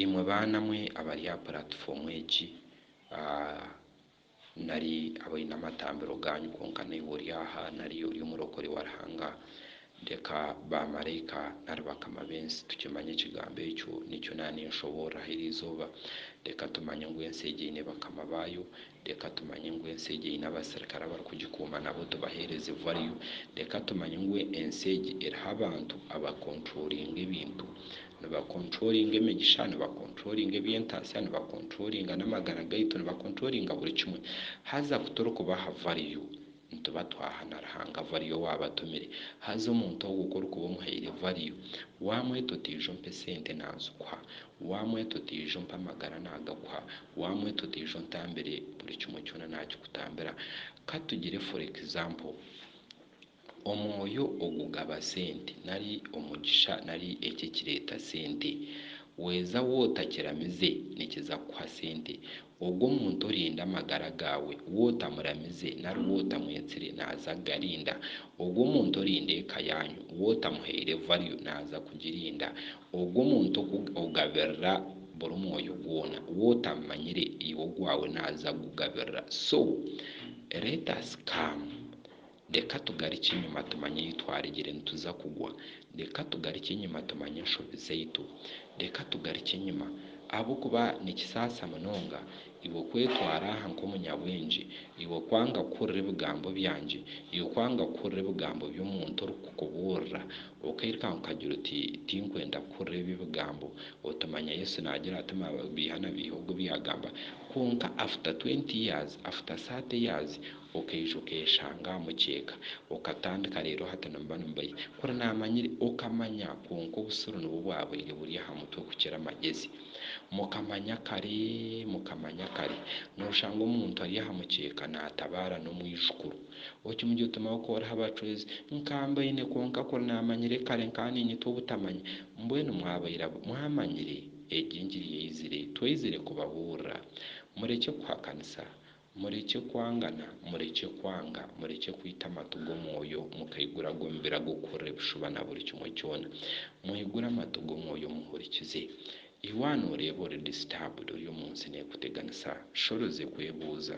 Imwe baana mwe abari aha puratifoomu egi nari abaine amatambiro gaanyu kwonka naiwe ori aha nari ori omurokore wa Ruhanga, reka baamaraika nari bakama b'ensi tukimanye ekigambo ekyo nikyo naaba ninshoboorora aha iri izooba. Reka tumanye ngu ensi egi eine bakama baayo Reka tumanye ngu ensi egi eine abaserikare abarikugikuuma nabo tubaheereze vario. Reka tumanye ngu ensi egi eriho abantu abakonturoringa ebintu. Nibakonturoringa emigisha, nibakonturoringa eby'entaatsya, nibakonturoringa n'amagara gaitu, nibakonturoringa buri kimwe. Haza ku turikubaha vario, Nituba twaha na Ruhanga value owaabatumire. Haza omuntu ogwo ku orikuba omuhaire value, waamweta otiija ompa esente naazikuha, waamweta otiija ompa amagara naagakuha, waamweta otiija ontambire buri kimwe kyona naakikutambira. Ka tugire for example, omwoyo ogugaba sente nari omugisha nari eki ekireeta sente. Weeza wootakiramize nikiza kukuha sente. Ogwo omuntu orinda amagara gaawe, we otamuramize nari we otamwetsire naaza kugarinda. Ogwo omuntu orinda eka yaanyu, we otamuhaire value naaza kugirinda. Ogwo omuntu okugabirira buri mwoyo gwona, we otamumanyire iwe ogwawe naaza kugugabirira. So, let us come Reka tugarukye enyima tumanye ahu twaregire nituza kugwa. Reka tugarukye enyima tumanye enshobi zaitu. Reka tugarukye enyima, ahabw'okuba nikisaasa munonga iwe kwetwara aha nk'omunyabwengye, iwe kwanga kuhurira ebigambo byangye, iwe kwanga kuhurira ebigambo by'omuntu orikukubuurira, okairukanga okagira oti, Tinkwenda kuhurira ebyo ebigambo. Otumanya Yesu naagira ati, Mabeiha na beiha ogwo ebi yaagamba. Kwonka after twenty years, after thirty years, Okaija okeshanga aha mukyeeka. Okatandika reero hati nimuba nimubaija. Kuri naamanyire okamanya kwonka obusiru nibwo bwabaire buri aha mutwe kukira amagezi. Mukamanya kare mukamanya kare. Nooshanga omuntu ari aha mukyeeka naatabaara n'omwijukuru. Okimugira oti mama kooraho abacwezi. Nkaba mbaine kwonka kuri naamanyire kare nkaba niinyitwa obutamanya. Mbwenu mwabaire abu mwamanyire, egyo engiri yaizire. Twaizire kubabuurira. Murekye kuhakanisa. Murekye kwangana, murekye kwanga, murekye kwita amatu g'Omwoyo, mukaigura ag'omubiri ag'okuhurira ebishuba na buri kimwe kyona. Mwigure amatu g'Omwoyo muhurikize. Iwe aha nooreeba ori disturbed, ori omu nsi neekuteganisa, shorozi ekwebuuza.